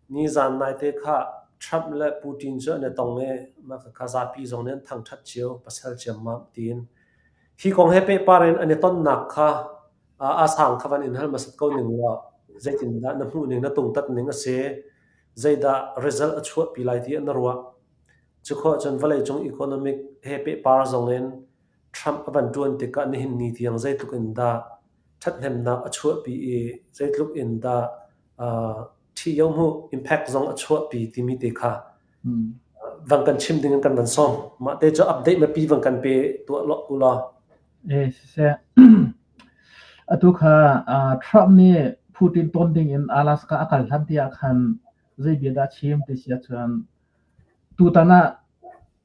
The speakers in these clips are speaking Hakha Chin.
Nizan naite kha Trump le Putin cu an i tong i khakha zapi zong nih an thangṭhat cio, pasal ciammam tiin. Hi kong he pehpar in an i tonnak kha a sang kha van in hal hmasat ko ning law zeitindah na hmuhning, na tungtatning a si, zeidah result a chuahpi lai tiah na ruah? Cukhawh cun vawleicung economic he pehpar zong in Trump a van ṭuan tikah nihin ni tiang zeitluk in dah ṭhathnemnak a chuahpi i zeitluk in dah ṭhih yo hmuh, impact zong a chuahpi timi te kha van kan chim ding in kan van sawm. Mah te cu update mapi van kan pe tuah lo u law. Eh siseh. Atu kha Trump nih Putin ton ding in Alaska a kal hlan tiah khan zei bia dah chim ti sia chuan tutan ah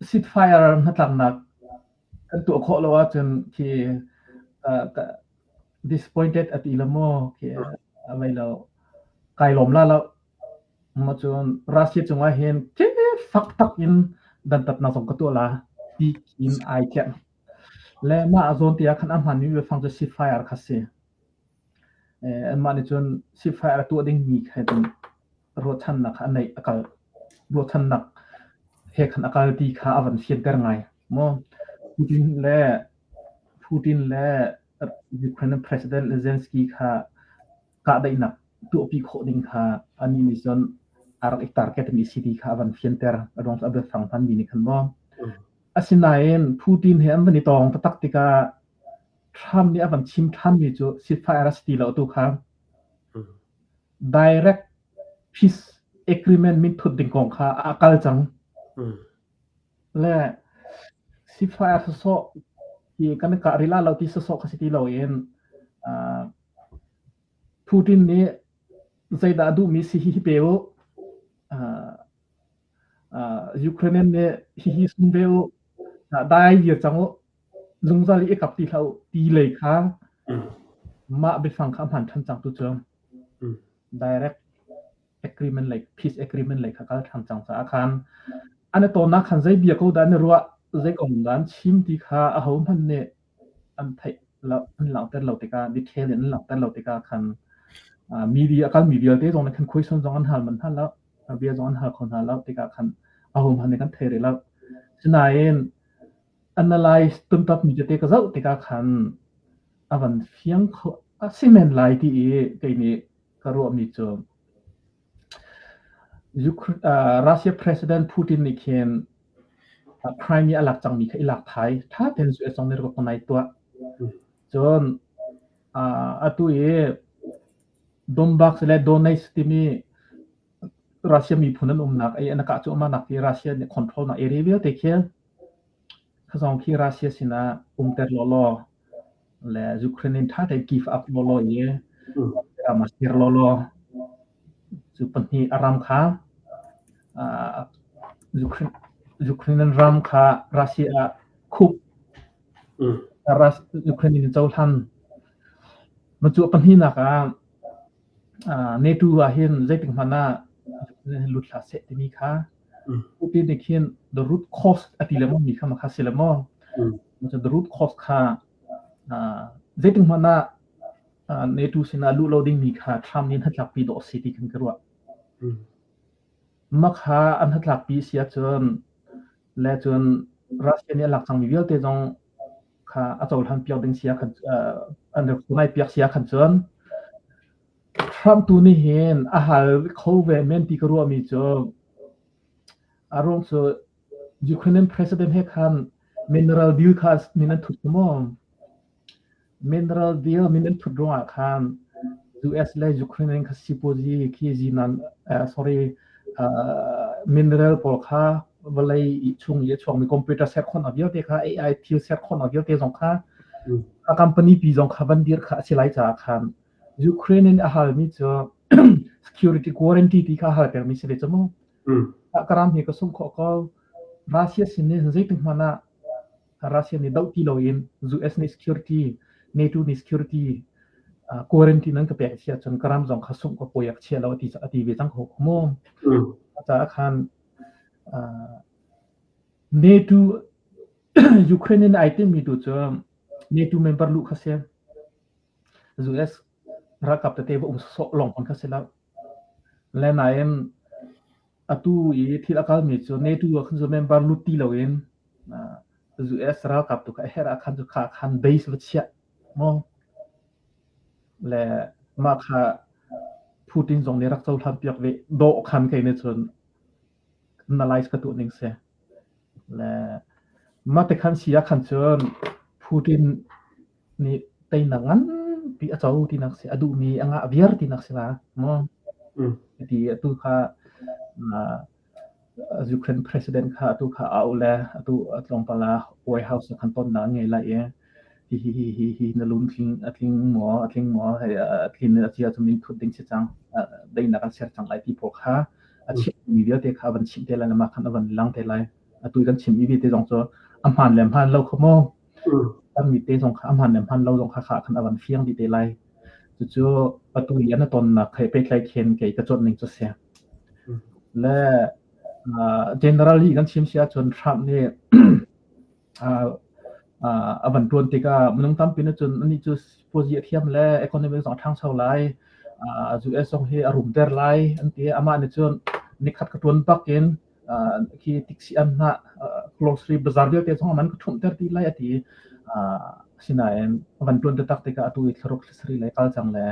ceasefire hnatlaknak kan tuah khawh lo ahcun khi disappointed a ti lo maw khi a vai lo kai lawm la lo ma cun Russia cungah hin ke fak tak in dantat na zong ka tuah la ti in ai tiang le ma a zawn tia khan ahman mi be fang cu ceasefire kha si an mah nih cun ceasefire a tuah ding mi kha din ruahchannak a neih a kal ruahchannak he khan a kal ti kha a van fianter ngai maw Putin le Putin le Ukraine President Zelensky kha kahdaihnak tuahpi khawh ding kha ani nih cun a rak i targetmi si ti kha a van fianter a ruang cu a biafang hmanmi nih khan maw asinain Putin he an van i tawng taktak tikah Trump nih a van chim ṭhanmi cu ceasefire a si ti lo tu kha Direct peace agreement min thut ding kong kha a kal cang. Le sifai a sawsawh ti kan ka rila lo ti sawsawh ka si ti lo in Putin nih zeidah a duhmi si hihi pe u. Ukraine nih hihi sum ve u. Dai dir cang u. Zungzal i i kap ti hlah u, ti lei kha mah biafang kha a hmaan ṭhan cang. Tucun direct agreement lei, peace agreement lei kha kal ṭhan cang caah khan an i tonnak khan zei bia ko dah an i ruah, zei kong dah an chim ti kha ahohmanh nih an theih lo, an langhter lo tikah, detail in an langhter lo tikah khan media a kalmi vialte zong nih khan question zong an hal manh hna lo, bia zong an hal kho hna lo tikah khan ahohmanh nih kan thei rih lo. Sinain analyze tumtapmi tete ka zoh tikah khan a van fiang kho a si men lai ti i kei nih ka ruahmi cu Russia President Putin nih khin Prime nih a lak cangmi kha i lak thai ṭha ten su song ne ko nai tuah cun atu i Donbass le Donetsk timi Russia miphun an umnak i anakah cu amanak hi Russia nih control nak area vialte khi Thazawng khi Russia sinah umter lawlaw le Ukraine in ṭha tein give up lawlaw i ram a ser lawlaw. Cu pahnih a ram kha uh, Ukraine, Ukrainian ram kha Russia ah khup Ukraine in cohlan. Macu pahnih nak ah Netu ah hin zeitik hmanh ah lut hlah seh timi kha upi nih khin the root cause a ti lemaw mi kha makha si lemaw the root cause kha zeitik hmanh ah netu sinah luh lo dingmi kha thlam nin hatlakpi dawh si ti kan ka ruah makha an hatlakpi si ahcun le cun Russia nih a lak cangmi vialte zong kha a cohlan piak ding sia khan an rak ngai piak sia khan cun Trump tu nih hin a hal kho ve men ti ka ruah mi cu a ruang cu Ukrainian president he khan mineral deal kha min an thut maw mineral deal min an thut ruang ah khan US le Ukraine kha sipuazi khi zinan sorry mineral pawl kha vawlei i chung i a chuangmi computer ser khawhnak vialte kha AI thil ser khawhnak vialte zong kha a company pi zong kha van dir kha a si lai caah khan Ukraine in a halmi cu security quarantine ti kha hal termi si ve cu mu karam hi ka sum kho ko Russia sin nih zeitik hmanh ah Russia nih doh ti lo in US nih security NATO nih security quarantine an ka pek sia cun karam zong kha sum ka poyak chia lo ti a ti ve cang ho mu caah khan NATO Ukraine in ai timi tu cu NATO member lu kha si US ralkap tete va um sawh long on kha si lo le nain atu i thil akal mi cu NATO khan zu member lut ti lo in US ralkap tu ka her akhan zu kha khan base va chia mo le mah kha Putin zong nih rak cohlan piak ve dawhkhan kei nih cun analyze ka tuah ning si le mah te khan si ah khan cun Putin nih teinak nganpi a co tinak si a duhmi a ngah viar tinak si la mu ti atu kha Ukraine president kha atu kha au le atu tlawmpal ah White House khan tonnak ngei lai i hihi hihi hi na lun tling a tling maw a tling maw a tlin a cia chung in thut ding si cang daihnak a ser cang lai ti phaw kha a chim mi vialte kha van chim te lai le mah khan a van lang te lai a tu kan chim mi vialte zong cu a hmaan le hmaan lo kho maw kan mi te zong kha a hmaan le hmaan lo zong kha kha khan a van fiang dih te lai. Cucu patu lian a tonnak thei peitlai khen kei ka cuan ning cu se. Le generally kan chim si ahcun Trump nih a van tuan tikah minung tampi na cun ani cu puazi a thiam le economic zong a ṭhangcho lai US zong hi a rum ter lai an ti amah nih cun nikhat ka tuan bak in khi tiksi am hna grocery bazar vialte zong man ka thumh ter ti lai ati asinain van tuan te tak te ka atu i thloruk sri lai kal chang le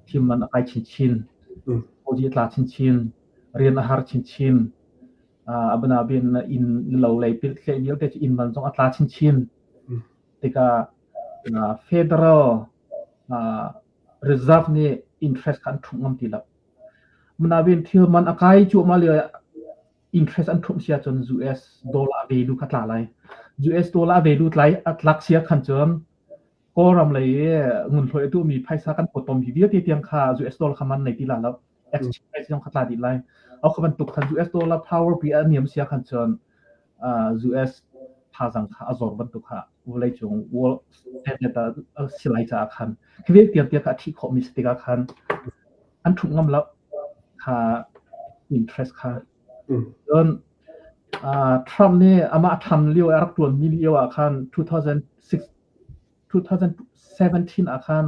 thim man akai chin chin oji tla chin chin rian ahar chin chin abana bin in lo lei pil tle vial te in man zong atla chin chin tika federal reserve ni interest kan thum ngam ti la Manaven thil man a kai cuahmah lio ah interest an ṭhumh sia cun US dollar value kha tla lai. US dollar value tlai a tlak sia khan cun Kawlram lei ngun hloi tu mi phaisa kan pot pom hi vialte tiang kha US dollar kha man nei ti la lo exchange price zong kha tla dih lai. Au kha bantuk khan US dollar power pi a niam sia khan cun US thazang kha a zawr bantuk kha vawleicung world standard a si lai caah khan khi ve tiang kha a thih khawhmi si tikah khan an thuk ngam lo kha interest kha cun Trump nih amah than lio a rak tuanmi lio ah khan 2017 ah khan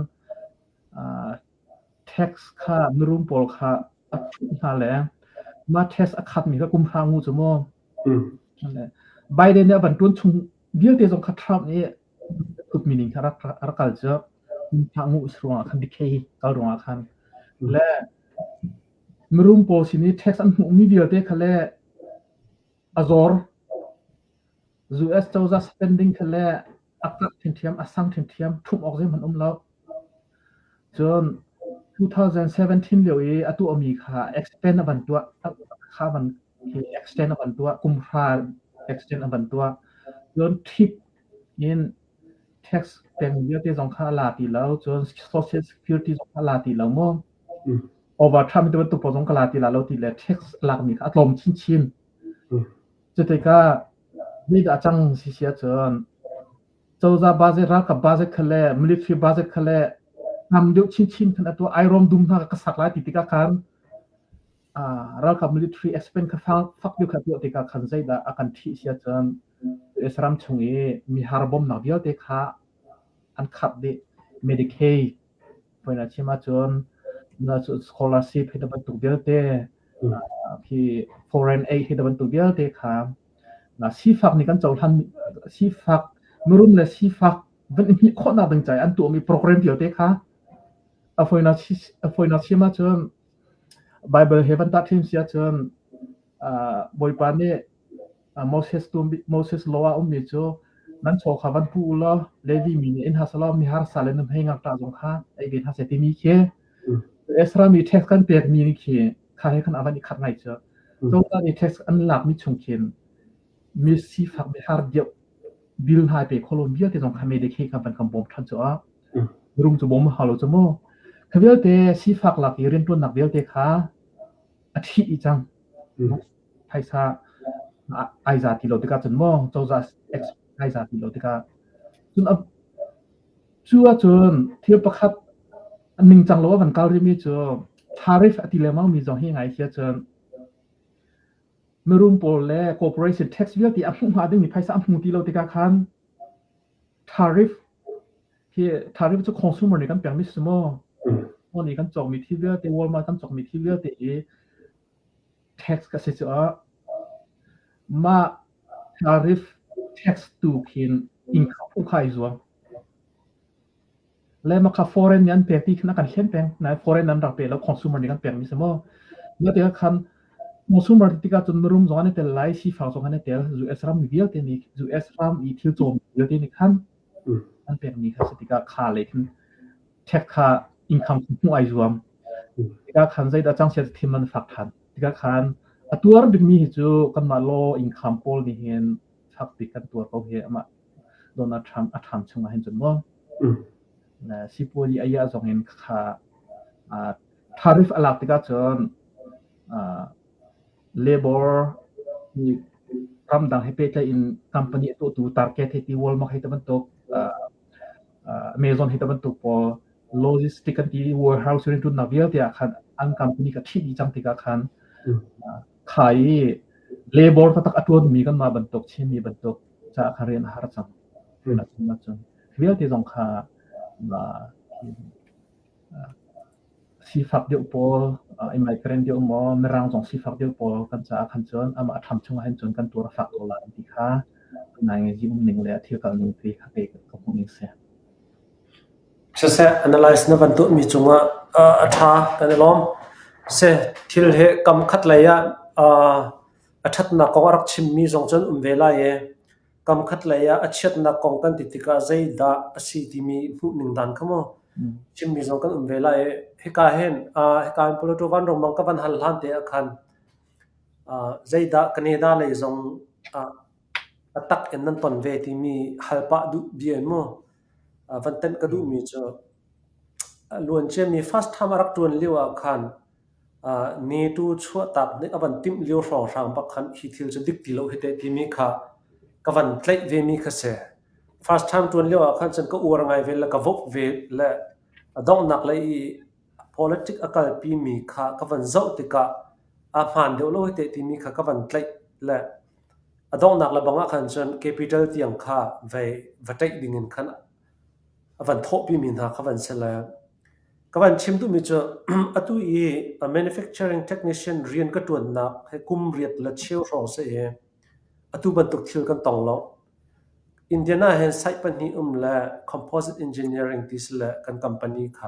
Tax kha mirum pawl kha a thuh hna le mah tax a khatmi kha kum hra ngu cu maw. Biden nih a van ṭuan chung vialte zong kha Trump nih tukmi ning kha a rak kal cu hra ngu is ruangah khan decay kal ruangah khan le mirum pawl sin i tax an hmuhmi vialte kha le a zor US cozah spending thil le taktak ṭhinthiam a sang ṭhinthiam ṭhumh awk zeihmanh um lo. Cun 2017 lio i a tuahmi kha extend a van tuah kha van hi extend a van tuah kumhra extend a van tuah cun tip in tax peng vialte zong kha a la ti lo cun social security zong a la ti lo mo overtime tu bantuk zong ka la ti la lo ti le tax lakmi kha a tlawm chinchin Cutikah zeidah a cang si si ahcun cozah baze ralkap baze khale military baze khale tam deuh chinchin khan atu ai rom dum hna ka sak lai ti tikah khan ralkap military expense kha fak deuh kha tuah tikah khan zeidah a kan thih si ahcun US ram chung i mi harbomnak vialte kha an khat dih Medicaid Hmuin a chim ahcun scholarship hi bantuk vialte khi foreign aid hi bantuk vialte kha sifak nih kan cohlan sifak mirum le sifak van i hmih khawhnak ding caah an tuahmi program vialte kha a foina chim ahcun Bible he van tah thim si ahcun Bawipa nih Moses tu Moses lo a ummi cu nan chaw kha van hu u law Levi mi nih in hasa law mi harsa le nam hei ngakṭah zong kha ei ve hna seh timi khi Ezra mi tax kan pekmi ni khi kha he khan a van i khat ngai cu Cozah nih tax an lakmi chung khin mi sifak mi har deuh bil hna pe kholon vialte zong kha me de khi kha van kan bawm ṭhan cu a rung cu bawm ha lo cu mu kha vialte sifak lak i rianṭuannak vialte kha a thi cang phaisa ai za ti lo tikah cun maw cozah ai za ti lo tikah cun cu ahcun thil pakhat ningcang lo a van kal rihmi cu tariff a ti lengmang mi zong hi ngai hi cun mirum pawl le corporation tax vialte a hmuh hnga dingmi phaisa a hmu ti lo tikah khan tariff hi tariff cu consumer nih kan pekmi si maw maw nih kan cawkmi thil vialte Walmart kan cawkmi thil vialte hi tax ka si cuah mah tariff tax tu khin income ukhai zuam le ma kha foreign ni an pe ti khna kan hlen peng na foreign an rak pe lo consumer ni kan peng mi samo ma te khan consumer ti ka chun room zong ne tel lai si fa zong ne tel US ram mi vial te ni US ram i thil chom vial te ni khan an peng ni kha se ti ka kha le khan check kha income hmuh ai zuam tikah khan zeidah changchiat thim an fak than tikah khan a tuar dingmi hi cu kanmah law income pawl nih hin fak bik kan tuar ko hi amah Donald Trump a tham chung ah hin cun mo sipuali aya zong in kha tarif alak tikah cun Labor nih ramdang he pehtlaih in company a tuahtu target he ti Walmart he bantuk Amazon he bantuk pawl logistic an ti warehouse rin tun na vialte ah khan an company ka thi cang tikah khan khai labor tatak atuan mi kan ma bantuk chin mi bantuk cha khan rian har cang vialte zong kha Sifak deuh pawl, migrant deuh maw, mirang zong sifak deuh pawl kan caah khan cun amah a ṭham chungah hin cun kan tuar a fak ko lai an ti kha nai ngei um ning le a thil kalning te kha kei ka hmuh ning si. Siseh analyze na van tuahmi cungah a ṭha kan i lawm. Siseh thil he kam khat lei ah a ṭhatnak kong a rak chimmi zong cun um ve lai i Kamkhat lei ah a chiatnak kong kan ti tikah zeidah a si timi hmuhning dan kha maw chimmi zong kan um ve lai i hika hen uh, hika hin Poloto vanrong mang ka van hal hlan te ah khan uh, zeidah Canada lei zong uh, atak in nan ton ve timi hal pah duh bia maw van tenh ka duhmi cu luan ciami first time a rak ṭuan lio ah khan ni tu chuahtak nih a van timh lio hrawnghrang bak khan hi thil cu dik ti lo hi teh timi kha ka van tlaih vemi kha si. First time ṭuan lio ah khan cun ka uar ngai ve le ka vok ve le a donghnak lei i politic a kalpimi kha ka van zoh tikah a hmaan deuh lo hi teh timi kha ka van tlaih le A donghnak le bang ah khan cun capital tiang kha vei va ṭaih ding in khan a van thawhpimi hna kha van si le ka van chim duhmi cu atu i a manufacturing technician rian ka ṭuannak hi kum riat le cheu hrawng si i atu bantuk thil kan tong lo. Indian ah hin site pahnih um le composite engineering ti si le kan company kha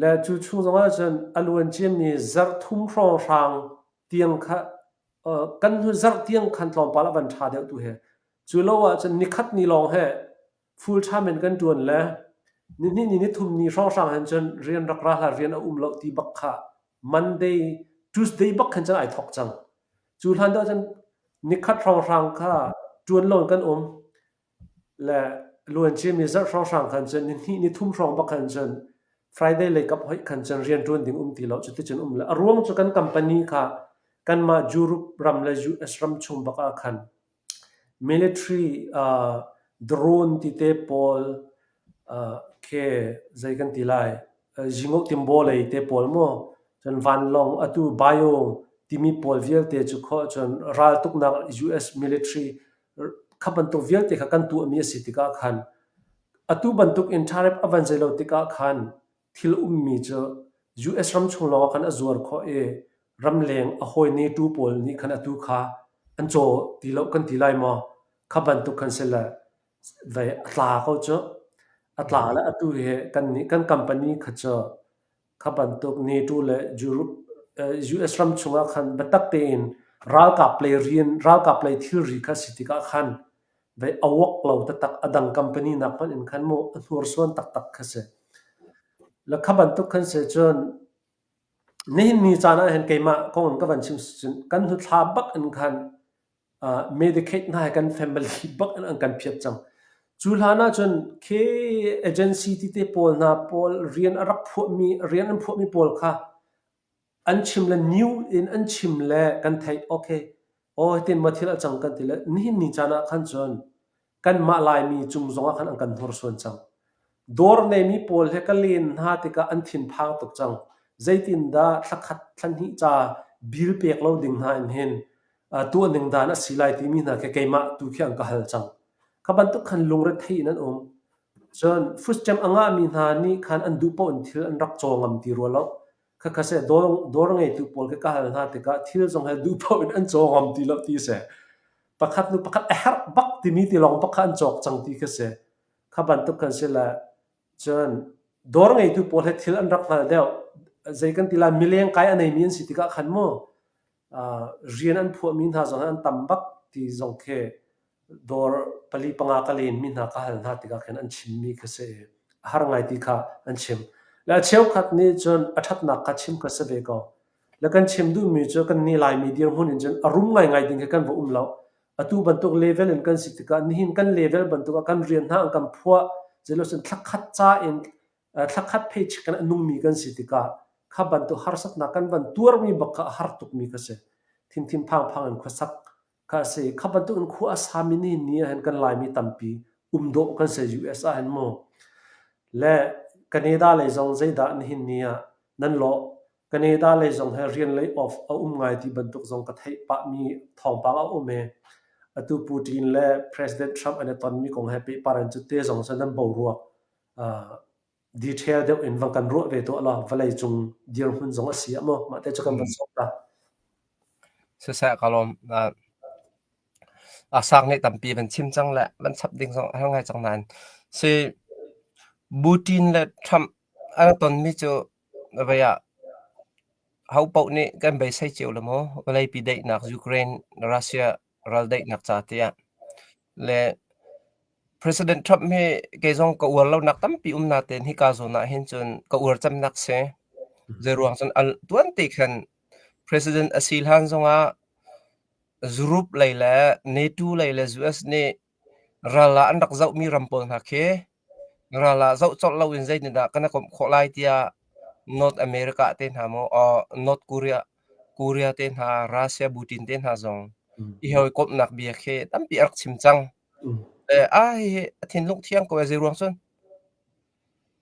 Le cu chung zongah cun a luancim mi zarhthum hrawnghrang tiang kha kan hnu zarh tiang khan tlawmpal a van ṭha deuh tu hi. Cu lo ahcun nikhat ni lawng hi full time in kan ṭuan le nihnih ni nithum ni hrawnghrang hin cun rian rak ra hlah rian a um loh ti bak kha Monday Tuesday bak khan cun ai thawk cang. Cu hlan deuh cun nikhat hrawnghrang kha ṭuan lo in kan um. Le luanciami zarh hrawnghrang khan cun nihnih nithum hrawng bak khan cun Friday lei kap hoih khan cun rianṭuan ding um ti lo. Cuticun um lo. A ruang cu kan company kha kanmah Europe ram le US ram chung bak ah khan military uh, drone tite pawl uh, khi zei kan ti lai uh, zingo timbo lei te pawl maw cun vanlawng atu bio timi pawl vialte cu kho cun raltuknak US military kha bantuk vialte kha kan tuahmi a si tikah khan atu bantuk in tariff a van zei lo tikah khan thil ummi cu US ram chung lawng khan a zuar khawh i ramleng a hawi netu pawl nih khan atu kha an caw ti lo kan ti lai maw kha bantuk khan se le ve a tla ko cu a tla le atu he kan nih kan company kha cu Kha bantuk NATO le US ram chungah khan biatak tein ralkap lei rian ralkap lei thilri kha si tikah khan vei awak lo taktak adang company nak hmanh in khan mu hnursuan taktak kha si la kha bantuk khan se chun nihin ni caan ah hen keimah kong ka van chim kan hnu thla bak in khan Medicaid hna hi kan family bak in an kan phiat cang. Cu hlan ahcun khi agency tete pawl hna pawl rian a rak phuahmi, rian an phuahmi pawl kha an chim le new in an chim le kan theih, okay, aw hitin maw thil a cang kan ti le nihin ni caan ah khan cun Kanmah Laimi cung zongah khan an kan hnorsuan cang. Dorneimi pawl he ka len hna tikah an thinphang tuk cang. Zeitindah thla khat thla hnih ca bil pek lo ding hna in hin uh, tuah ning dan a si lai timi hna khi keimah tu khi an ka hal cang. Kha bantuk khan lungrethei in an um. Cun fuscem a ngahmi hna nih khan an duh paoh in thil an rak caw ngam ti rua lo. Khakha seh dawr ngeitu pawl khi ka hal hna tikah thil zong he duh paoh in an caw ngam ti lo ti a si. Pakhat nu pakhat a herh bak timi tilawng bak kha an cawk cang ti khi a si. Kha bantuk kan si le cun dawr ngeitu pawl he thil an rak hngal deuh. Zei kan ti lai mileng kai a neimi an si tikah khan mu rian an phuahmi hna zong an tam bak ti zong khi dawr pali panga ka lenmi hna ka hal hna tikah khin an chimmi kha si a har ngai ti kha an chim le a cheukhat nih cun a ṭhatnak kha chim kha si ve ko le kan chim duhmi cu kan ni laimi dirhmun in cun a rum ngaingai ding khi kan va um lo atu bantuk level in kan si tikah nihin kan level bantuk ah kan rian hna an kan phuah cilo sin thlakhat ca in thla khat phei chicken a nungmi kan si tikah kha bantuk harsatnak kan van tuarmi bak kha a har tukmi kha si thimthim phangphang in khuasak kha a si kha bantuk in khua a sami ni ni ahhin kan laimi tampi um dawh kan se US ahhin mu le Canada lei zong zeidah nihin ni ah nan law Canada lei zong he rian lay off a um ngai ti bantuk zong ka theih pahmi thawngpang a um e atu Putin le President Trump an i tonmi kong he pehpar in cu te zong sa nan bo rua detail deuh in van kan ruah ve tuah law vawlei cung dirhmun zong a si a maw? Mah te cu kan van sawm ta. Siseh ka lawm. A sang nih tampi van chim cang le van chap ding zong a har ngai cang nain si Putin le Trump an tonmi cu vai ah ho paoh nih kan beisei cio le maw vawleipi daihnak Ukraine Russia raldaihnak ca tiah. Le President Trump hi kei zong ka uar lonak tampi um natein hika zawn ah hin cun ka uar cemnak si. Zeiruang cun al tuante khan President a si hlan zongah Zurup lei le NATO lei le US nih Ral ah an rak zohmi ram pawl hna khi ral ah zoh colh loin zeitindah kan i komh khawh lai tiah North America te hna maw or North Korea, Korea te hna, Russia butin te hna zong i hawikomhnak bia khi tampi a rak chim cang. Le a hihi a thinlung thiang ko ee zeiruang cun.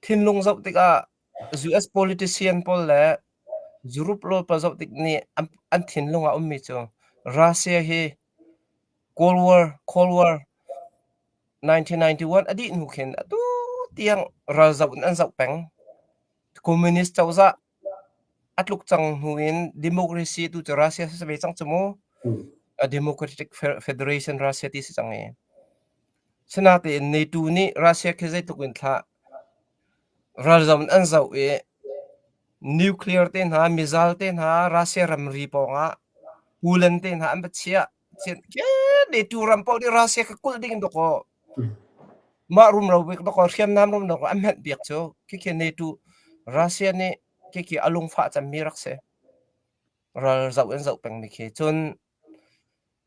Thinlung zoh tikah US politician pawl le Europe rawl pawl zoh tik nih an, an thinlung a ummi cu Russia hi Kawlwar kawlwar nineteen ninety-one a dih hnu khin atu tiang ralzoh in an zoh peng. Communist cozah a tluk cang hnu in democracy tu cu Russia si ve cang cu mu. A Democratic Federation Russia ti si cang i. Sinatein NATO nih Russia khi zeitluk in thlah Ralzam in an zoh i nuclear te hna, mizal te hna, Russia ramri pawngah Poland te hna an va chiah. Netu ram paoh nih Russia kha kulh ding in dawkaw mah rumro bik dawkaw hriamnam rum dawkaw an hmenh piak cu. Khikhi netu Russia nih khikhi a lungfah cemmi rak si. Ralzoh in zoh pengmi khi. Cun,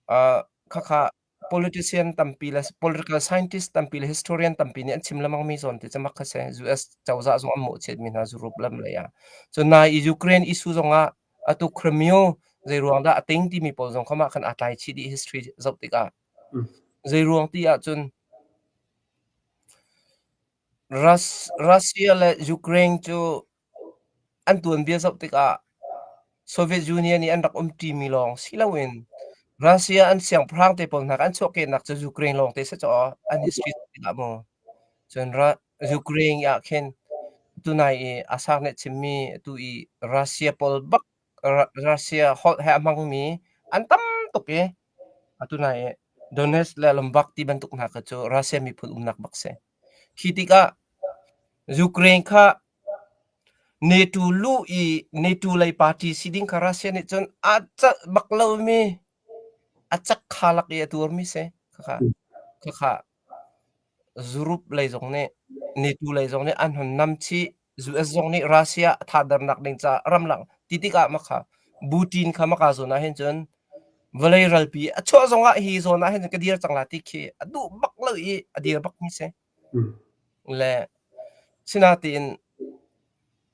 aa khakha Politician tampi le political scientist tampi le historian tampi nih an chim lengmang mi zawn ti cu mak a si. US cozah zong an mawhchiat mi hna zurup lam lei ah. Cun nai i Ukraine issue zong ah atu Crimeo zeiruang dah a ting timi pawl zong kha mah khan aa tlai chih dih history zoh tikah. Zeiruang ti ahcun Rus- Russia le Ukraine cu An tuanbia zoh tikah Soviet Union i an rak umṭimi lawng si loin Russia an siangpahrang te pawl hna kha an chuahkehnak cu Ukraine lawng te si caw an history zoh tikah maw cun Ru- Ukraine i ahkhin tunai i a sang nih chimmi atu i Russia pawl bak Ru- Russia holh he a hmangmi an tam tuk i atu nai i Donetsk le Lombok ti bantuk hna kha cu Russia miphun umnak bak si. Khi tikah Ukraine kha NATO luh i NATO lei party si ding kha Russia nih cun aa celh bak lomi a cakha lak i a tuarmi si. Khakha, khakha Zurup lei zong nih NATO lei zong nih an hun nam chih. US zong nih Russia a thahdernak ding caah ramlak ti tikah makha Putin kha maka zawn ah hin cun vawlei ralpi a chuah zong ah hi zawn ah hin cun ka dir cang la ti khi a duh bak lo i a dir bak mi si le sinatin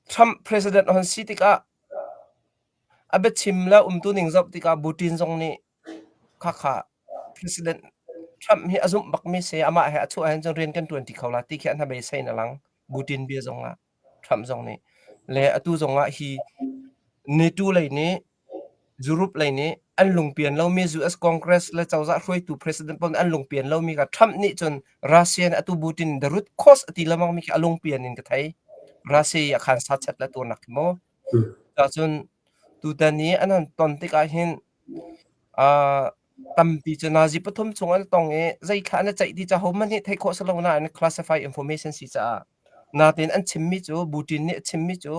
Trump president hon si tikah a biachim la umtu ning zop tikah Putin zong nih Khakha President Trump hi a zumh bakmi si, amah he a chuah ahhin cun rian kan ṭuanṭi kho la ti khi a hnabeisei in a lang. Putin bia zongah, Trump zong nih. Le atu zongah hi NATO lei nih, Europe lei nih an lungpian lomi US Congress le cozah hruaitu president pawl nih an lungpian lomi kha Trump nih cun Russia nih atu Putin in the root cause a ti lengmang mi khi a lungpian in ka thei. Russia i a khan sachet le tuarnak khi maw. Cuacun tutan i an han ton tikah hin Uh, tampi cu Nazi pathum chung an tong i zeithla an i ceih ti ca hohmanh hi theih khawh si lo nain a classified information si caah natin an chimmi cu Putin nih a chimmi cu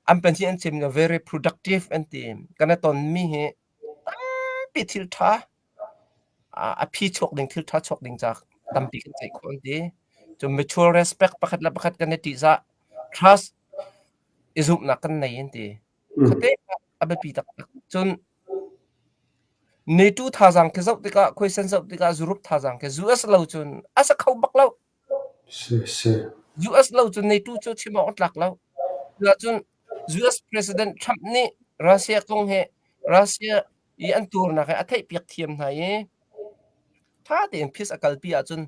an pahnih an chim very productive an ti kan i tonmi hi tampi thil ṭha a phi chuak ding thil ṭha chuak ding ca tampi kan ceih khawh an ti cu mutual respect pakhat le pakhat kan i ṭihzah trust i zumhnak kan nei an ti Khuate ah a biapi taktak. Cun netu thazaang khi zoh tikah, khuaisen zoh tikah zurup thazaang khi US lo cun a sa kho bak lo. Si, si. US lo cun netu cu chim awk a tlak lo. Cuticun US President Trump nih Russia kong hi Russia i an tuarnak hi a theihpiak thiam hna i, tha tein phis a kalpi ahcun,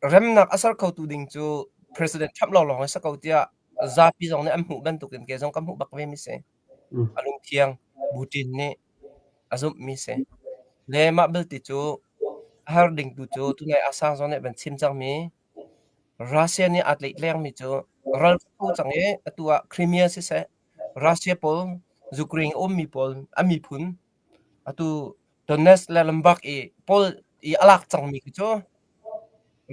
remnak a ser khotu ding cu President Trump lawnglawng hi a si ko tiah Zapi zong nih an hmuh bantukin kei zong ka hmuh bak vemi si. A lungthiang Bu Ṭin nih a zumhmi si. Le mah belte cu a har dingtu cu tunai Aung San nih a van chim cangmi Russia nih aa tletlengmi cu ral ka tho cang i atu ah Crimea siseh, Russia pawl Ukraine a ummi pawl, a miphun Atu Donetsk le Lombok i Paul i a lak cangmi khi cu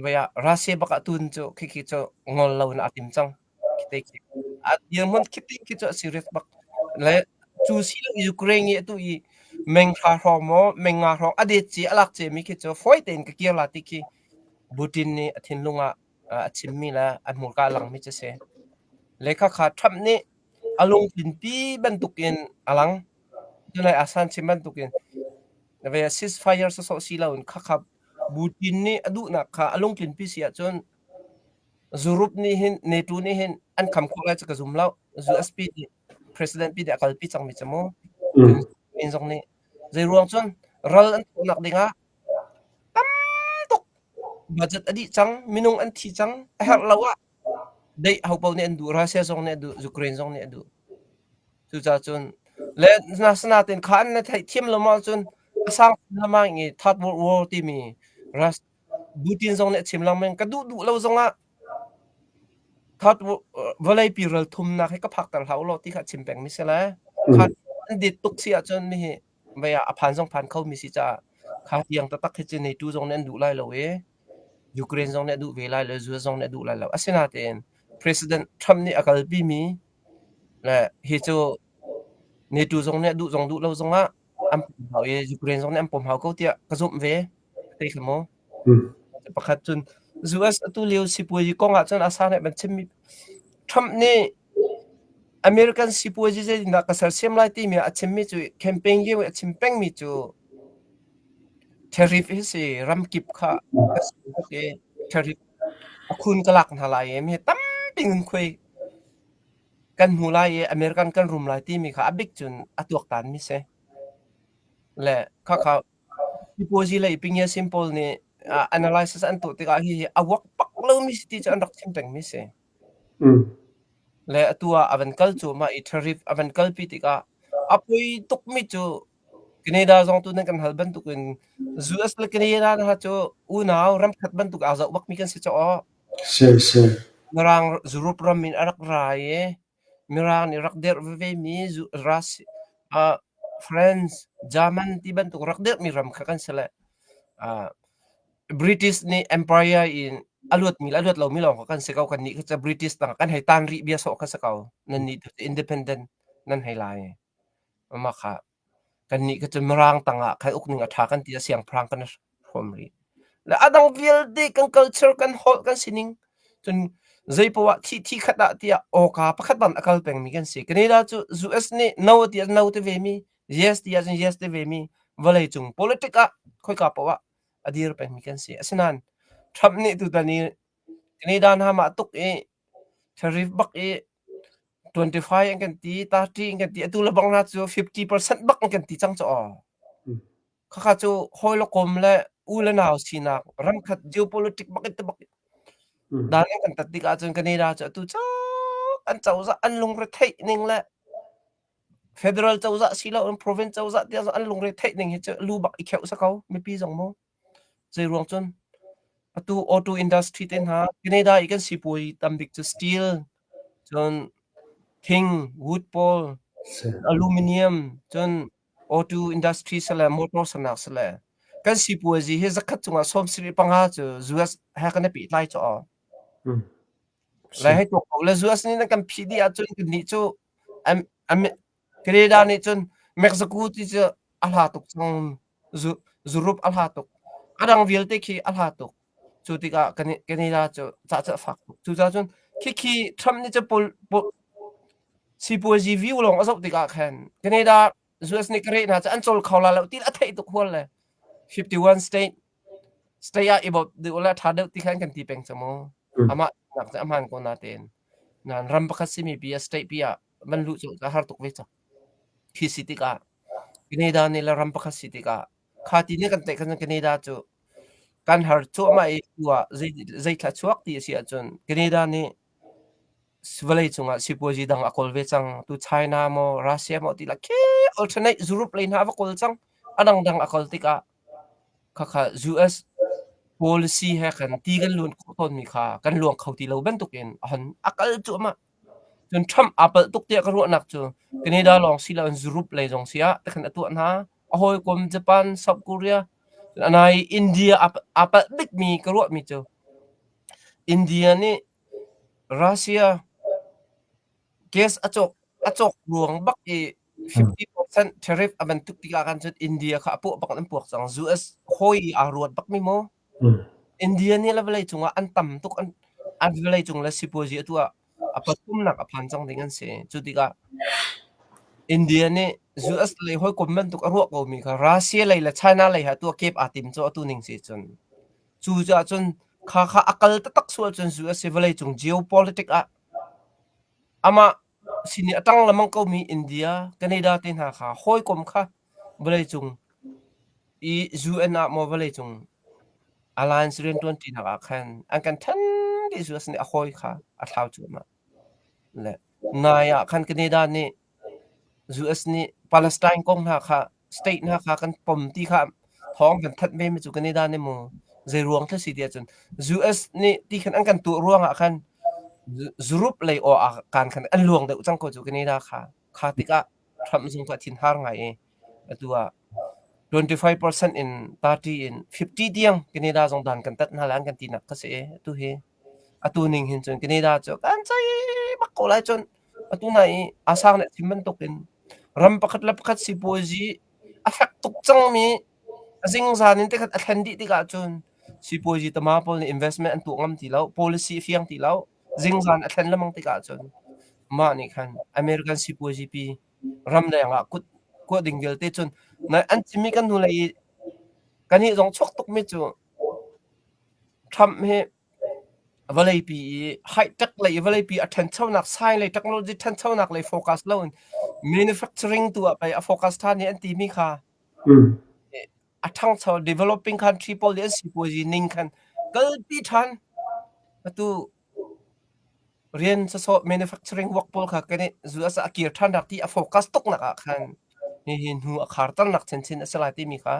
vei ah Russia bak ah tun cu khikhi cu ngol lo in a tim cang khite khi. A dirhmun khite khi cu a serious bak. Le cu si lo Ukraine i atu i meng hra hrawng maw meng nga hrawng a det ci a lak ciami khi cu fawi tein ka kir la ti khi Putin nih a thinlung ah a chimmi le an hmurka a langmi cu a si. Lehkha kha Trump nih a lungthin ti bantukin a lang. Cunlei a sanchim bantukin na ve a ceasefire sawsawh si loin khakha Putin nih a duhnak kha a lungtlin pi si ahcun zurup nih hin NATO nih hin an kham khawh lai cu ka zum lo. USB nih president pi nih a kalpi cangmi cu mu. Min zong nih. Zeiruang cun ral an thuhnak dingah Budget a dih cang, minung an thi cang. A herh lo ah deih ho paoh nih an duh, Russia zong nih a duh, Ukraine zong nih a duh. Cucaah cun le asinain kha an na theihthiam lawmawng cun a sang lengmang i Third World War timi Rus Putin zong nih a chim lengmang. Ka duh duh lo zong ah Third World vawleipi ralthumnak hi ka phakter hlah ulaw ti kha a chim pengmi si lai. Kha an dit tuk si ahcun mihi mei ah a phan zong phan khomi si caah kha tiang taktak hi cu NATO zong nih an duh lai lo i Ukraine zong nih a duh ve lai lo US zong nih a duh lai lo asinain President Trump nih a kalpimi le hi cu NATO zong nih a duh zong duh lo zongah an pom hau i Ukraine zong nih an pom hau ko tiah ka zumh ve thei kha maw pakhat cun US atu lio sipuazi kong ahcun a sa nih ban chimmi Trump nih American sipuazi zeitindah ka sersiam lai timi ah a chimmi cu campaign lio i a chim pengmi cu tariff hi si ramkip kha ka si tuk i tariff a khun ka lak hna lai i mi tampi in khuai kan hmu lai i American kan rum lai timi kha a bik cun a tuaktanmi si. Le khakha sipuazi lei pingyasin pawl nih analysis an tuah tikah hihi a uak pak lomi si ti cu an rak chim pengmi si. Le atu ah a van kal cuahmah i tharif a van kalpi tikah a poi tukmi cu Canada zong tu nan kan hal bantukin US le Canada hna cu unau ramkhat bantuk aa zoh bakmi kan si caah Si, si. Mirang Europe ram in a rak ra i Mirang nih rak dirh vevemi Zu- Rus- ah, France, German ti bantuk rak dirhmi ram kha kan si le ah, British nih empire in a luatmi le a luat lomi lawng kha kan si ko. Kannih cu British tangah kan hei tan rih bia sawh kha si ko. Nannih cu independent nan hei lai. Mah kha kannih cu Mirang tangah kai uk ning a ṭha kan ti i siangpahrang kan hrawm rih. Le a dang vialte kan culture kan holh kan sining cun zeipoah thi thi khat ah tiah awka pakhat bang a kal pengmi kan si. Canada cu US nih no tiah no ti vemi, yes tiah cun yes ti vemi vawleicung politic ah khoika paoh ah a dir pengmi kan si. Asinain Trump nih tutan i Canada hna mah tuk i tariff bak i 25 an kan ti, 30 an kan ti, atu le bang hna cu 50% bak an kan ti cang cu aw. Khakha cu hawi le kom le u le nau sinak ramkhat geopolitics bak in te bak dan an kan tat tik ahcun Canada cu atu cak an cozah an lungretheih ning le Federal cozah si lo in province cozah tiah an lungre theih ning hi cu lu bak i kheuh sa ko mipi zong mu. Zei ruang cun atu auto industry te hna Canada i kan sipuai tam bik cu steel cun thing wood pole aluminium cun auto industry sale motor sanak sale kan sipuai zi hi zakhat cungah sawm siri panga cu US he kan i pehtlai cu o. Le hei tuak ko le US nih nan kan phih dih ahcun kan nih cu Canada nih cun Mexico ti cu a hla tuk cang. Zurup a hla tuk. A dang vialte khi a hla tuk. Cu tikah Canada cu cah cu a fak tuk. Cucaah cun khikhi Trump nih sipuazi view lawng a zoh tikah khan Canada US nih Canada hna cu an cawl kho la lo ti a theih tuk hual le 51 state Saya i bawmh ding u le ṭha deuh ti kha an kan ti peng cang maw? Hm. Amah nak cu a hmaan ko natein. Nain ram pakhat simi pi a state pi ah van luh cu a har tuk ve cang. Khi si tikah Canada nih le ram pakhat si tikah kha ti nih kan tlaih khan cun Canada cu kan har cuahmah i tu ah zei zeithla chuak ti a si ahcun Canada nih vawlei cungah sipuazi dang a kawl ve cang. Tu China maw Russia maw ti le khel alternate zurup lei hna a va kawl cang. A dangdang a kawl tikah Khakha US policy he khan ti kan luan khawh tawnmi kha kan luang kho ti lo bantukin a han a kal cuahmah. Cun Trump aa palh tuk tiah ka ruahnak cu Canada lawng si loin Europe lei zong si ah te khan a tuah hna. A hawikom Japan, South Korea, a nai India aa palh bikmi ka ruahmi cu India nih Russia gas a cawk a cawk ruang bak i 50% tariff a ban tuk tikah khan cun India kha a puah bak an puak cang. US hawi aa ruat bak mi maw? India nih le vawlei cungah an tam tuk an an vawlei cung le sipuazi atu ah a pathumnak a phan cang ding an si. Cu tikah India nih US lei hawi kom bantuk a ruah ko mi kha Russia lei le China lei ha tu a kep aa tim cu atu ning si cun. Cu caah cun kha kha a kal taktak sual cun US hi vawlei cung geopolitic ah amah Asini a tang lengmang komi India, Canada te hna kha hawikom kha vawleicung i UN ah maw vawleicung alliance rianṭuanṭinak ah khan an kan ṭhen ti cu asini a hawi kha a thlau cuahmah. Le nai ah khan Canada nih US nih Palestine kong hna kha state hna kha kan pom ti kha thawng kan thanh ve mi cu kan i dan emaw zei ruang thil si ti ahcun US nih ti khan an kan tuah ruangah khan Zurup lei aw ah kan khan an luang deuh cang ko cu kani da kha kha tikah Trump zung tu a thin har ngai i atu ah 25% in 30 in 50 tiang Canada zong dan kan tat hna lan kan ti nak ka si tu hi atu ning hin cun Canada cu kan sai mak ko lai cun Atu hna i a sang nih a chim bantukin ram pakhat le pakhat sipuazi a fek tuk cangmi a zingzan in tikhat a thlen dih tikah cun sipuazi tama pawl nih investment an tuah ngam ti lo, policy a fiang ti lo. Zingzan a thlen lengmang tikah cun mah nih khan American sipuazi pi ram deng ah kut kuah ding vialte cun na an chimmi kan hnulei i kannih zong chuak tukmi cu Trump hi vawleipi i high-tech lei i vawleipi a ṭhenchonak sailei technology ṭhenchonak lei focus loin manufacturing tu ah pei a focus ṭhan hi an timi kha a ṭhangcho developing country pawl hi an sipuazi ning khan kalpi ṭhan atu rian sawsawh manufacturing work pawl kha kan i zu a sa a kir ṭhannak ti a focus tuknak ah khan hihi hnu a kharternak chinchin a si lai timi kha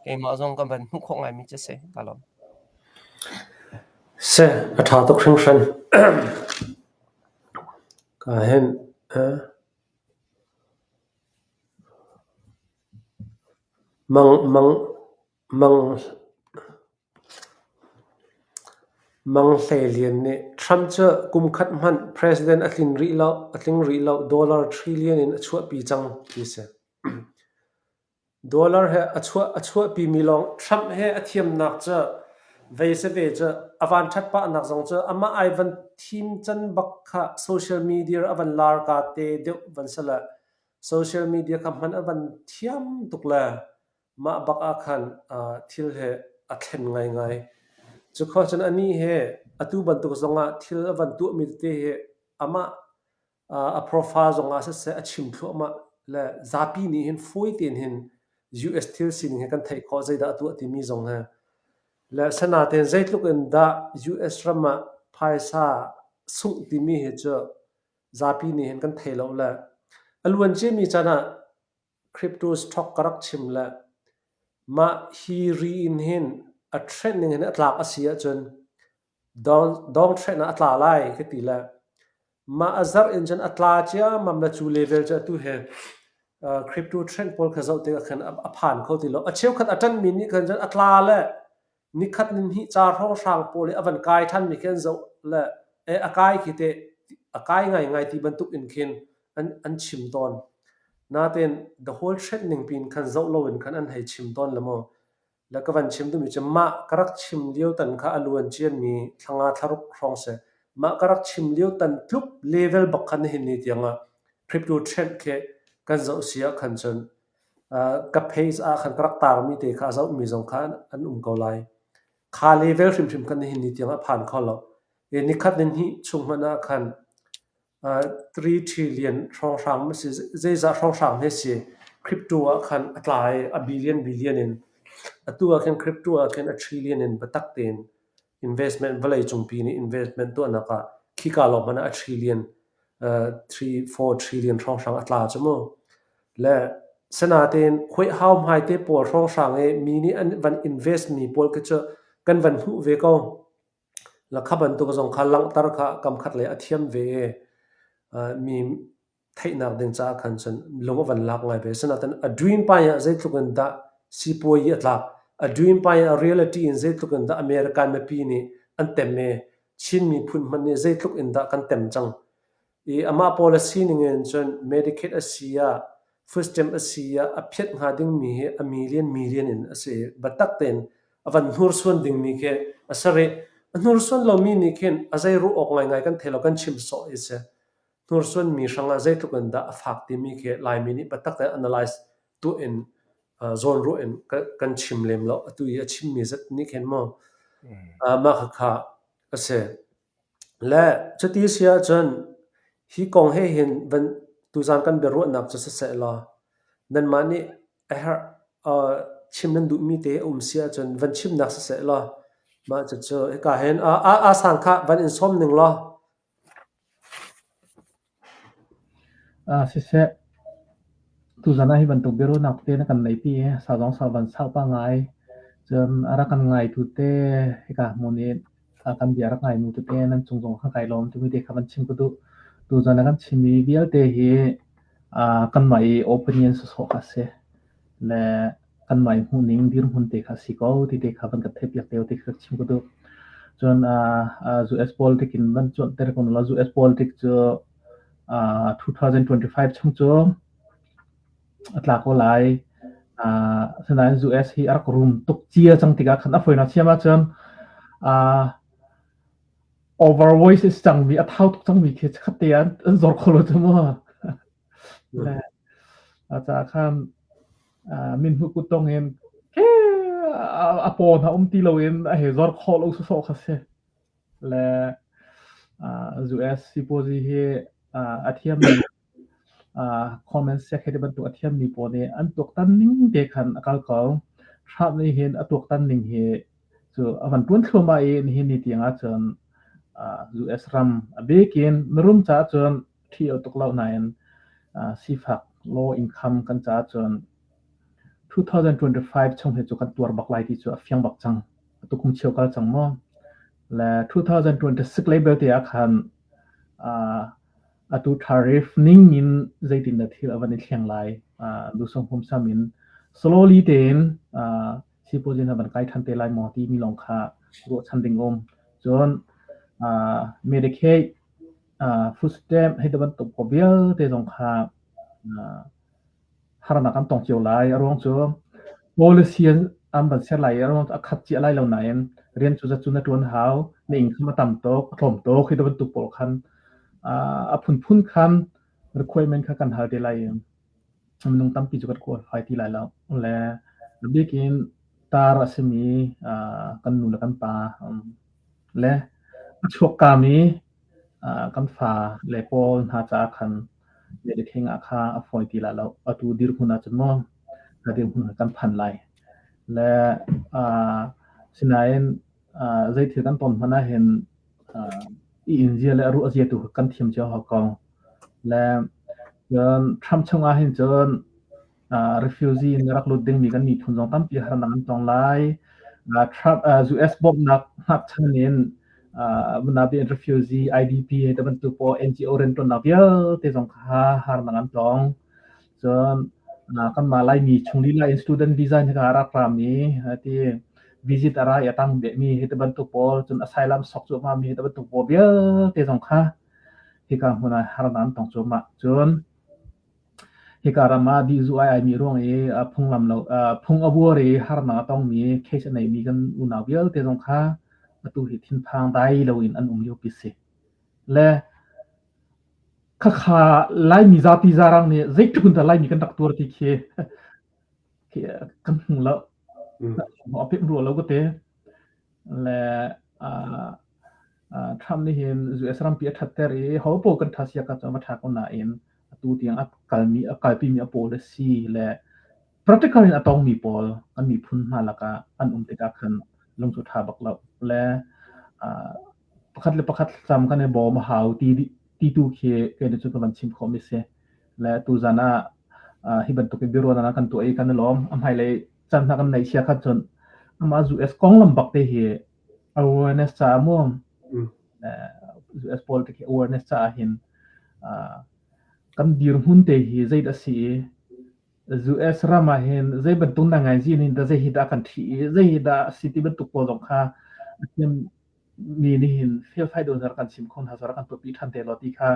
Keimah zong ka van hmuh khawh ngaimi cu a si. Ka lawm. Seh, a ṭha tuk hringhran. Kaa hemh. Eh? Mang, mang, mang, Mang Hlei Lian nih Trump cu kum khat hmanh president a tling rih lo, a tling rih lo, dollar trillion in a chuahpi cang ti a si. Dollar he a chuahpimi lawng Trump he a thiamnak cu vei si ve cu a vanṭhat pahnak zong cu amah ai van thim can bak kha social media a van larka te deuh van si le social media kha hman a van thiam tuk le mah bak ah khan thil he a thlen ngaingai. Cukhua cun anih he atu bantuk zongah thil a van tuahmi tete hi amah a profile zongah siseh a chim thluahmah le zapi nih hin fawi tein hin US thil sining he kan theih khawh zeidah a tuah timi zong he le asinain zeitluk in dah US ram ah phaisa sungh timi hi cu zapi nih hin kan thei lo le a luan ciami can ah crypto stock ka rak chim le mah hi ri in hin a trendning hin a tlak a si ahcun Dawng hrehnak a tla lai ka ti le mah a zarh in cun a tla ciammam le cu level cu atu he crypto trend pawl kha zoh tikah khan a phan kho ti lo. A cheukhat a ṭanmi nih khan cun a tla le nikhat nihnih ca hrawnghrang pawl i a van kai ṭhanmi khi an zoh le a kai khi teh a kai ngaingai ti bantuk in khin an chim tawn. Nain the whole trend ning piin khan zoh loin khan an hei chim tawn le maw? Na ka van chim duhmi cu mah ka rak chim lio tan kha a lu an cianmi thlanga thlaruk hrawng si. Mah ka rak chim lio tan tluk level bak khan nihin ni tiangah crypto trend khi kan zoh si ah khan cun uh, ka page ah khan ka rak taarmi te kha a zohmi zong kha an um ko lai. Kha level hrimhrim kan nihin ni tiangah phan kho lo. E nikhat ni hnih chung hmanh ah khan Tiri ṭhi lian hrawnghrang na si. Zeizah hrawnghrang na si? Crypto ah khan a tla i a billion billion in. Atu ah khin crypto ah khin a trillion in biatak tein investment vawlei cungpi nih investment tuahnak ah khika lawng hmanh ah a trillion, three, four trillion hrawnghrang a tla cu mu. Le sanatein huaihau hmaite pawl hrawnghrang i mi nih an van invest mi pawl khi cu kan van hmuh ve ko. Lahka bantuk zong kha langhter kha kamkhat lei a thiam ve i mi theihnak ding caah khan cun lung a van lak ngai ve. Asinain a dream pai ah zeitluk in dah sipuai hi a tlak, a dream pai ah reality in zeitluk in dah American mipi nih an tem i Chin miphun hmanh nih zeitluk in dah kan tem cang. I amah pawl a sining in cun Medicaid a si ah food stamp a si ah a phiat hnga dingmi hi a million million in a si. Biatak tein a van hnursuan dingmi khi a si rih. A hnursuan lomi nih khin a zei ruah awk ngaingai kan thei lo kan chim sawh i si. Hnursuanmi hrangah zeitluk in dah a fak timi khi Laimi nih biatak tein analyze tu in uh, zawn ruah in ka, kan chim lem lo. Atu i a chimmi zat nih khin maw uh, mah khakha ka si. Le cuti a si ahcun hi kong he hin tuzaan kan biaruahnak cu si seh law nanmah nih a herh chim nan duhmi te a um si ahcun van chimnak si seh law mah cucu hika hin aa sang kha van in sawm ning law. Ah siseh, tuzan ah hi bantuk biaruahnak tete na kan neihpi i sau zong sau van sau pah ngai. Cun a rak kan ngaitu te hika hmun i a kan bia rak ngainu tete nan cung zong kha kai lawm timi te kha van chim ka duh. Tuzan a kan chimmi vialte hi ah kanmah i opinion sawsawh kha a si. Le Kanmah i hmuhning dirhmun te kha a si ko ti te kha van kan theih piak te u ti kha chim ka duh. Cun US politic in van cuanter ko la US politic cu 2025 chung cu a tla ko lai. Asinain US hi a rak rum tuk cia cang tikah khan a foinak thiam ahcun overweight is cangmi a thau tuk cangmi khi khat te an zor kho lo cu mu. Caah khan Minhmuk kuttong in a paw hna um ti loin a hei zor khawh lo sawsawh kha si. Le US sipuazi hi a thiammi Coleman Sek hei bantuk a thiammi pawl nih an tuaktan ning te khan a kal ko. Trump nih hin a tuaktan ning hi cu a van tuan thluamah i nihin ni tiang ahcun US ram a bikin na rum caah cun thil tuk lo nain uh, sifak law income kan ca cun 2025 chung he chu kan tuar bak lai ti chu a fiang bak chang tu kum chiu kal chang mo le 2026 label te khan uh, atu tariff ning in zeitin da thil avan thleng lai uh, lu song hum samin slowly ten uh, sipozin avan kai than te lai mo ti mi long kha ro chan ding om chon uh, medicaid footstep hei bantuk ko vialte zong kha harnak an tong cio lai a ruang cu policy an van ser lai a ruang a khat cia lai lo nain rian cu zatun a tuan hau na ing kha a tam tok a tlawm tok hei bantuk pawl khan a phunphun khan requirement kha kan hal te lai minung tampi cu kan qualify ti lai lo le bikin tar a simi kan nu le kan pa le a chuak kami kan fa le pawl hna caah khan Meditheng ah kha a fawi ti lah lo. Atu dirhmun ah cun maw ka dirhmun ah kan phan lai. Le sinain zei thil kan ton hmana hin i inzia le ruah zia tu kan thiam cio hok kong. Le cun Trump chungah hin cun refugee in rak lut dingmi kan miphun zong tampi harnak an tong lai. Trump US bawmhnak ngakchan in nabi refugee IDP te bantuk paw NGO riantuannak vialte zong kha harnak an tong. Cun kanmah Laimi chung lila in student visa ni ka rak rami ti visit ara ya tang be mi hi te bantuk pawl cun asylum sok chu ma mi te bantuk pawl vialte zong kha hi ka hmuna harnan tong chu ma cun Hika ram ah dihzuh ai aimi ruang i a phunglam lo uh, phung a vuar i harnak a tongmi case a neimi kan unau vialte zong kha atu hi thinphang dai loin an um liopi si. Le khakha Laimi zapi zarang nih zeitluk in Laimi kan rak tuar ti khi kan hmu lo. A pem ruah lo ka te. Le uh, Trump nih hin US rampi a ṭhatter i hopaoh kan ṭha siakap cu a va ṭha ko nain atu tiang a kalmi a kalpimi a pawl a si le practical in a tawngmi pawl an miphun hna lakah an um tikah khan lungcu ṭha bak lo le pakhat le pakhat thlacam kan i bawm a hau ti ti tu khi kei cu ka van chim khawhmi si le tuzan ah hi bantuk in biaruahnak kan tuah i kan i lawm a hmailei can hna kan nei chia khat cun amah US konglam bak te hi awareness caah maw pawl te khi awareness caah hin kan dirhmun te hi zei da si US ram ah hin zei bantuk na ngai zin hin da zei hi da kan thi i zei hi da si ti bantuk pawl zong kha mi nih hin felfai don har kan sim khon ha sar kan tupi than te lo ti kha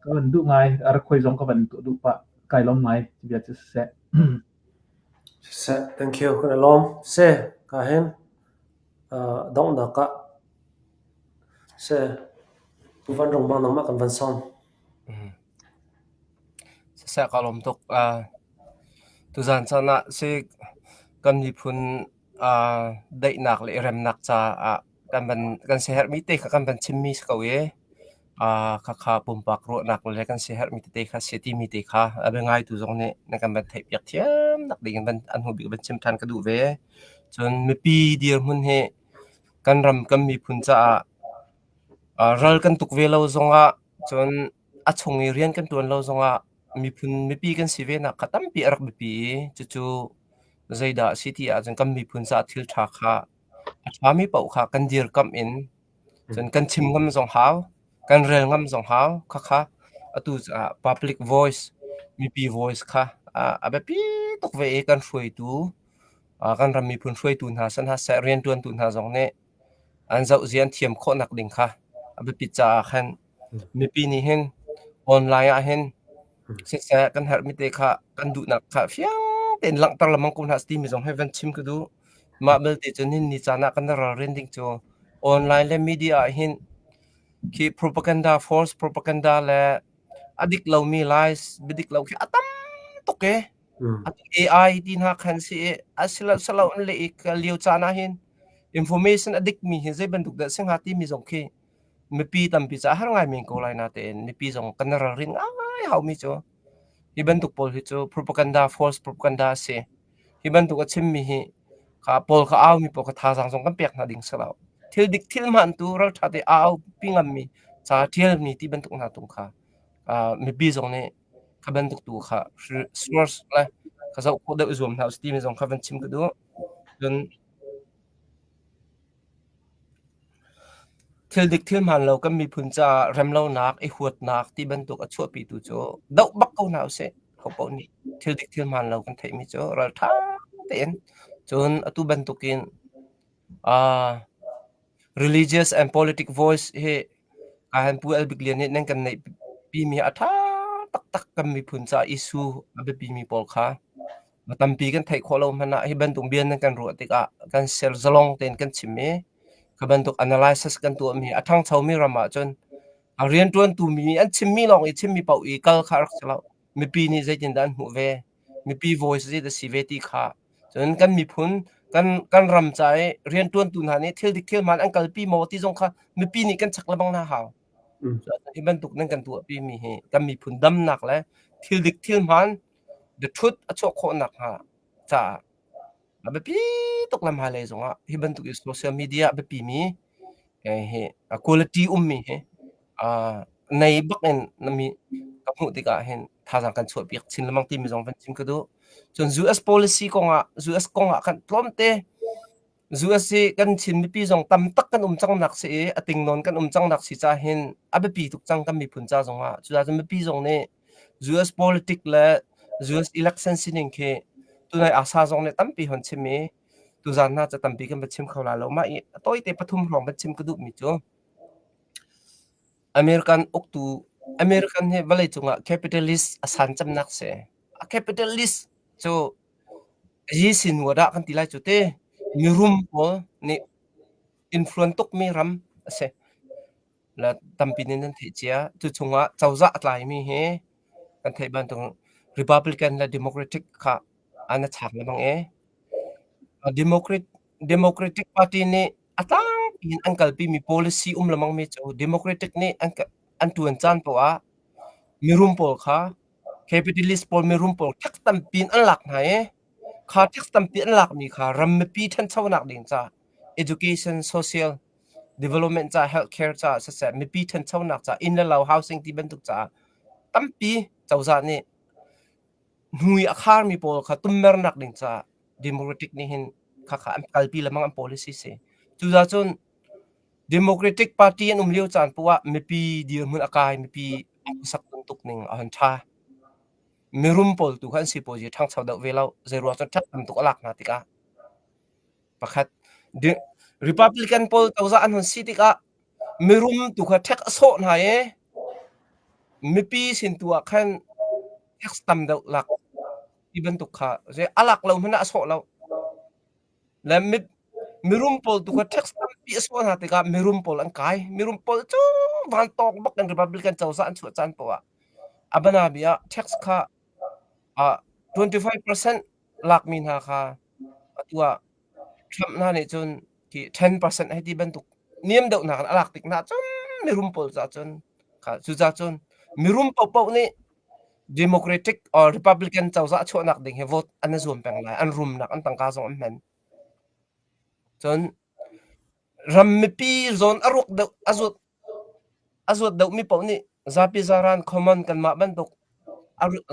ka van du ngai ar khoi zong ka van tu du pa kai long ngai ti bia chi se se thank you hun alom se ka hen Donghnak ah vanrung vanglawng ah kan van sawm. Siseh kaa lawm tuk. Tuzan caan ah si kan miphun daihnak le i remnak caah kan van siaherhmi te kha kan van chimmi si ko i Khakha pumpak ruahnak le kan siaherhmi tete kha si a timi te kha a biangaitu zong nih na kan van theihpiak thiam nak ding in an hnu bik in van chim ṭhan ka duh ve. Cun mipi dirhmun hi kan ram kan miphun caah ral kan tuk ve lo zongah cun a chung i rian kan ṭuan lo zongah miphun mipi kan si ve nak kha tampi a rak biapi i cucu zeidah a si ti ahcun kan miphun caah thil ṭha kha a ṭhami paoh kha kan dirkamh in Cun kan chim ngam zong hau, kan rel ngam zong hau. Khakha atu caah public voice, mipi voice kha a biapi tuk ve i kan hruaitu, kan ram miphun hruaitu hna sin hlah seh, rianṭuantu hna zong nih an zohzia an thiam khawhnak ding kha a biapit caah khan Mipi nih hin online ah hin siseh kan herhmi te kha kan duhnak kha fiang tein langhter lengmang ko hna seh timi zong hi van chim ka duh. Mah belte cun hin ni caan ah kan i ralrin ding cu online le media ah hin khi propaganda, false propaganda le a dik lomi lies, biadik lo khi a tam tuk e. Mh. A AI ti hna kha an si i asilohselo an leh i ka lio caan ah hin information a dikmi hi zei bantuk dah a si hnga timi zong khi mipi tampi ca har ngai men ko lai na tein mipi zong kan ralrin ngai haumi cu hi bantuk pawl hi cu propaganda false propaganda a si hi bantuk a chimmi hi ka pawl ka aumi pawl ka thazaang zong kan pek hna ding silo thil dik thil hman tu raltha te au pi ngammi ca thial mi ti bantuk hna tung kha mipi zong nih ka bantuk tu kha source le ka zoh khawh deuh zuam hna usiti mi zong kha van chim ka duh cun Thil dik thil hmaan lo kan miphun caah remlonak, i huatnak ti bantuk a chuahpitu cu doh bak ko hna usih. Ho paoh nih thil dik thil hmaan lo kan theihmi cu ralṭha tein cun atu bantukin ah religious and politic voice hi kai han pu Albik Lian nih nan kan neihpimi a ṭha taktak kan miphun caah isu a biapimi pawl kha. a tampi kan theih khawh lo hmanh ah hi bantuk bia nan kan ruah tikah kan ser zalong tein kan chim i kha bantuk analysis kan tuahmi a ṭhangchomi ram ahcun a rianṭuantu mi an chimmi lawng i chimmi paoh i kal kha a rak si lo mipi nih zeitindah an hmuh ve mipi voice zeidah si ve ti kha cun kan miphun kan kan ram ca i rianṭuantu hna nih thil dik thilman an kalpi maw ti zong kha mipi nih kan chek lebang hna hau hi bantuk nan kan tuahpimi hi kan miphun damnak le thil dik thilman Biaṭhut a chuah khawh nakhnga caah a biapi tuk le hmailei zongah hi bantuk i social media a biapimi eh, hi a quality ummi hi uh, nei bakin na mi ka hmuh tikah hin thazaang kan chuahpiak chin lemang timi zong van chim ka duh. Cun US policy kongah US kongah kan tlawmte Zu a si kan Chin mipi zong tam tak kan um cang nak si i a ting nawn kan um cang nak si ca hin a biapi tuk cang kan miphun ca zong ah cucaah mipi zong nih US politic le US election sining khi tunai ASA zong nih tampi hon chim i tuzan hna ca tampi kan va chim kho la lo mah i a tawite pathum hrawng van chim ka duh mi cu American uktu American hi vawleicung ah capitalist a san cemnak si. A capitalist cu yi sinwat ah kan ti lai cu ti mirum pawl nih influence tukmi ram a si. La tampi nih nan theih cia. Cuchungah cozah a tlaimi hi kan theih bantuk Republican le Democratic kha an a chak lebang e. Democrat Democratic party nih a tlangpi in an kalpimi policy um lemang mi cu Democratic nih an an tuan caan poah ah mirum pawl kha capitalist pawl mirum pawl thek tampi in an lak hna i kha thek tampi an lakmi kha ram mipi ṭhanchonak ding ca education social development ca healthcare ca siseh mipi ṭhanchonak ca inn le lo housing ti bantuk caah tampi cozah nih hnui a kharmi pawl kha tummernak ding caah democratic nih hin khakha an kalpi lemang an policy si cucaah cun democratic party an um lio caan poah mipi dirhmun a kai mipi sak tuk ning a han tha mirum pawl tu kha an sipuazi thangcho deuh ve lo zei ruang cun that tam tuk a lak hna tikah pakhat republican pawl cozah an hon si tikah mirum tu kha thek a sawh hna e mipi sin tu ah khan tax tam deuh lak ti bantuk kha zei a lak lo hmanh ah a sawh lo le mit mirum pawl tu kha tax tampi a sawh hna tikah mirum pawl an kai mirum pawl cu vantawk bak in republican cozah an chuah caan poah a banabi ah tax kha ah 25% lakmi hna kha atu ah Trump hna nih cun khi 10% hei ti bantuk niam deuhnak in a lak tik nahcun mirum pawl caah cun kha cucaah cun mirum paohpaoh nih Democratic or Republican cozah chuahnak ding hi vote an i zuam peng lai an rumnak an tangka zong an hman cun ram mipi zawn a ruak deuh a zut A zuat deuhmi paoh nih zapi zaran common kanmah bantuk a ru-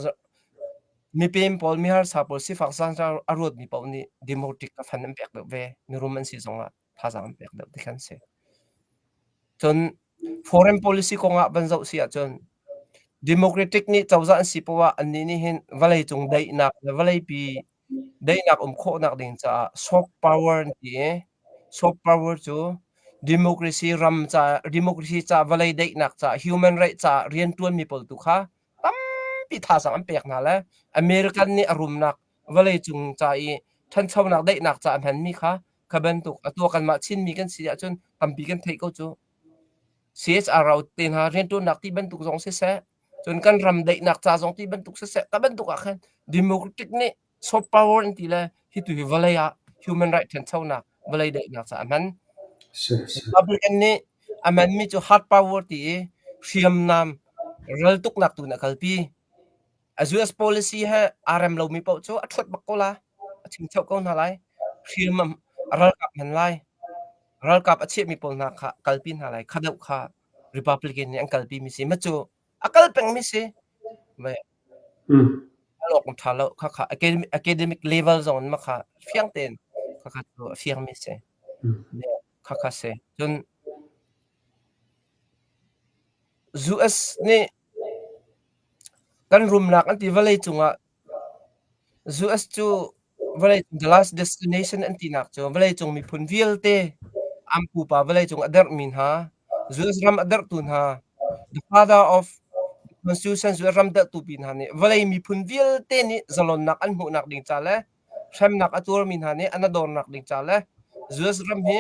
mipem pawl miharsa pawl sifak zaangzang a ruatmi paoh nih democratic a fan an pek deuh ve. Mirum an si zongah thazaang an pek deuh ti khan a si. Cun foreign policy kongah van zoh si ahcun democratic nih cozah an si poah annih nih hin vawleicung daihnak le vawleipi Daihnak um khawhnak ding caah soft power an ti i soft power cu democracy ram caah democracy caah vawlei daihnak caah human right caah rianṭuanmi pawl tu kha tampi thazaang an pek hna le American nih a rumnak vawleicung ca i ṭhanchonak daihnak caah a hmanmi kha kha bantuk atu kanmah Chinmi kan si ahcun tampi kan theih ko cu. CSRO te hna rianṭuannak ti bantuk zong siseh, cun kan ram daihnak ca zong ti bantuk siseh, ka bantuk ahkhin democratic nih soft power in ti le hi tu hi vawlei ah human right ṭhanchonak vawlei daihnak caah a hman. Republican nih a hmanmi cu hard power ti i hriamnam raltuknak tu in a kalpi. A US policy he aa rem lomi paoh cu a ṭhuat bak ko la, a ṭhingcho ko hna lai. Hriam a ralkap hman lai. Ralkap a chiahmi pawl hna kha kalpi hna lai. Kha deuh kha Republican nih an kalpimi si. Macu a kal pengmi si. Ve. Mm. A lawkung ṭha lo. Khakha academic, academic level zong in makha fiang tein khakha cu a fiangmi si. Mm. Khakha si. Cun US nih Kan rumnak an ti vawleicung ah US cu vawleicung the last destination an tinak cu vawleicung miphun vialte an pupa vawleicung a derhmi hna, US ram a derhtu hna, the father of the constitution US ram derhtu pi hna nih vawlei miphun vialte nih zalonnak an hmuhnak ding ca le hremnak a tuarmi hna nih an a dornak ding ca le US ram hi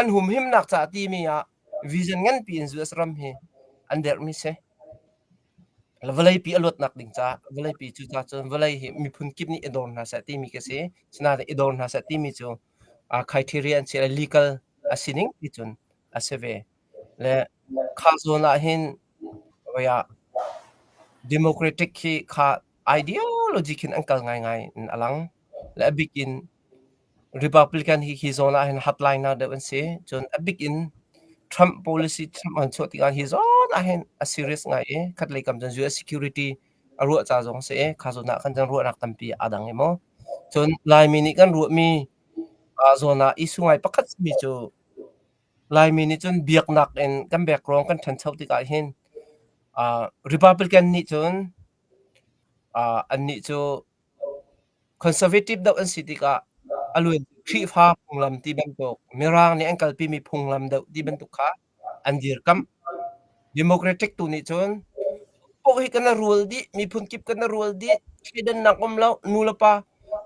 An humhimnak caah timi ah vision nganpi in US ram hi an derhmi si. Vawleipi a luatnak ding caah vawleipi cu cun vawlei hi miphun kip nih i dor hna seh timi ka si. Asinain i dor hna seh timi cu criteria an si i legal a sining ti cun a si ve. Le kha zawn ahhin voi ah democratic hi kha ideology khin an kal ngaingai in a lang. Le a bik in Republican hi hi zawn ah hin hotline deuh an si. Cun a bik in Trump policy Trump an chuah tikah hi zawn ah hin a serious ngai i khatlei kam cun US security a ruah ca zong a si i kha zawn ah kan kan ruahnak tampi aa dang emaw. Cun Laimi nih kan ruahmi aa zawn ah issue ngai pakhat simi cu Laimi nih cun biaknak in kan background kan ṭhancho tikah hin ah Republican nih cun ah annih cu Conservative deuh an si tikah a lu in Khrihfa phunglam ti bantuk Mirang nih an kalpimi phunglam deuh ti bantuk kha an dirkamh. Democratic tu nih cun paoh hi kan rual dih, miphun kip kan rual dih, thleidannak um lo, nu le pa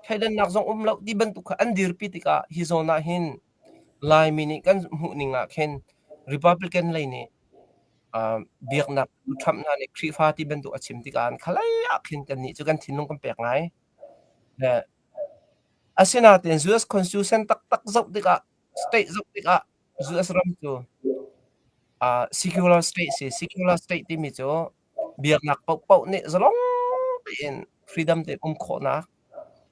thleidannak zong um lo ti bantuk kha an dirpi tikah hi zawn ahhin Laimi nih kan hmuh ning ah khin Republican lei nih aa biaknak Trump hna nih Khrihfa ti bantuk a chim tikah an khalei ah khin kannih cu kan thinlung kan pek ngai. Le asinain US constitution taktak zoh tikah state zoh tikah US ram cu aa secular state si secular state timi cu Biaknak paohpaoh nih zalong tein freedom tein um khawhnak,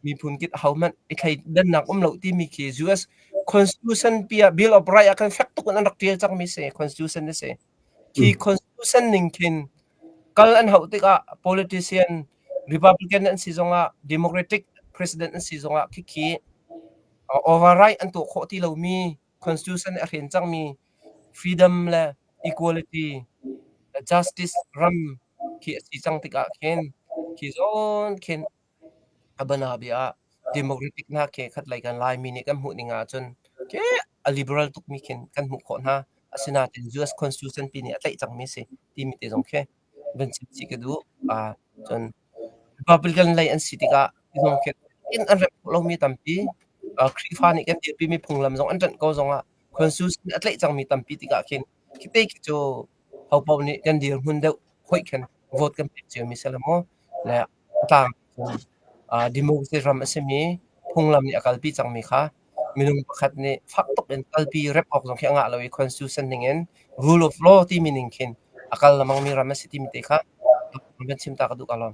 miphun kip ahohmanh i thleidannak um lo timi khi US Constitution pi ah Bill of Rights ah khan fek tuk in an rak ṭial cangmi si, Constitution a si. Hi Constitution ning khin kal an hauh tikah politician Republican an si zongah Democratic president an si zongah khikhi override an tuah khawh ti lomi constitution nih a hren cangmi freedom le equality le justice ram khi a si cang tikah khin khi zawn khin a bana bia ah democratic hna khi khat lei kan Laimi nih kan hmuh ning ahcun khi a liberal tukmi khin kan hmuh khawh hna asinain US constitution pi nih a tlaih cangmi si timi te zong khi van chim chih ka duh. Ah cun mipa palian lei an si tikah minung khi in an remh khawh lomi tampi, ah Khrihfa nih kan dirpimi phunglam zong an ṭanh ko zongah constitution a tlaih cangmi tampi tikah khin khite khi cu hopaoh nih kan dirhmun deuh hoih khin vote kan pek cio mi si lo maw? Le A tlang ahcun ah democracy ram a simi phunglam nih a kalpi cangmi kha minung pakhat nih fak tuk in kalpi rep awk zong khi a ngah lo i constitution ningin rule of law timi ning khin a kal lengmangmi ram a si timi te kha kan chim ta ka duh ka lawm.